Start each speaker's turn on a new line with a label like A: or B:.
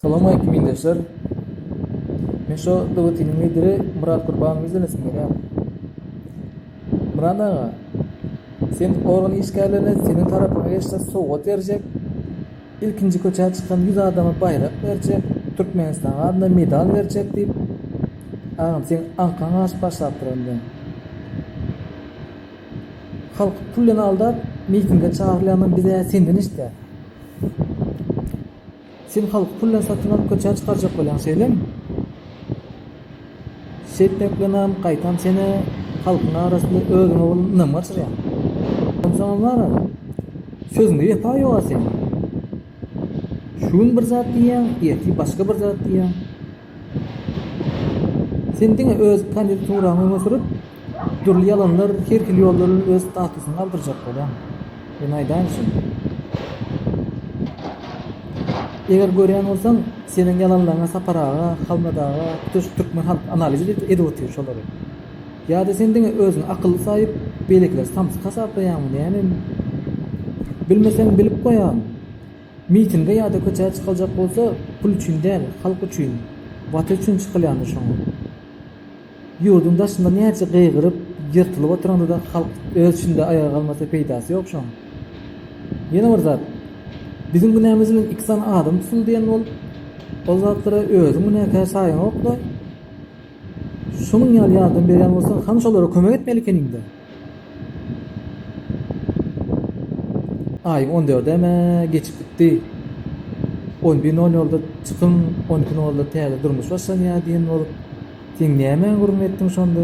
A: Salam aleýkum ildeşler. Men şo dewletiniň lideri Myrat Gurbanowy izlenesim gelýär. Myrat aga, sen organ işgärlerine seniň tarapyňa geçse sowgat berjek, ilkinji köçä çykan ýüz adama baýrak berjek, Türkmenistanyň adyna medal berjek diýip, agam seň aňkaň aşyp başlapdyr indi. Halky pul bilen aldap mitinge çagyrylýandan biz-ä senden eşidýäs. Sen halky pul bilen satyn alyp köçä çykarjak bolýaň şeýlemi? Şeýtmek bilenem gaýtam seni halkyň arasynda özüňe bolan ynamy gaçyrýaň. Onsoňam wara, sözüňde wepa ýoga seniň. Şu gün bir zat diýýäň, ertir başga bir zat diýýäň. Sen diňe öz kandidaturyňy öňe sürüp, dürli ýalanlar, her hili ýollar bilen öz statusyňy galdyrjak bolýaň. Men aýdaýyn şuny. Eger görýän bolsaň, seniň ýalanlaryňa Sapar aga, Halmyrat aga, tutuş türkmen halk analiz edip otyr şolary. Ýa-da sen diňe özüňi akylly saýyp, beýlekileri samsyk hasaplaýaňmy näme? Bilmeseň bilip goýaý. Mitinge ýa-da köçä çykyljak bolsa pul üçin däl, halk üçin, Watan üçin çykylýandyr şoňa. Ýurduň daşynda näçe gygyryp, ýyrtylyp oturanda-da halk öz içinde aýaga galmasa peýdasy ýok şoň. Ýene bir zat, biziň günämiz bilen iki sany adam tutuldy diýen bolup, ol zatlara özüň günäkär saýaňok-da. Şunuň ýaly ýardam berýän bolsaň, hany şolara kömek etmeli ekeniň-dä. Aýyň on dördem-ä geçip gitdi. On bir nol nolda çykyň, on iki nolda täze durmuş başlanýar diýen bolup, sen nämä gürrüň etdiň şonda?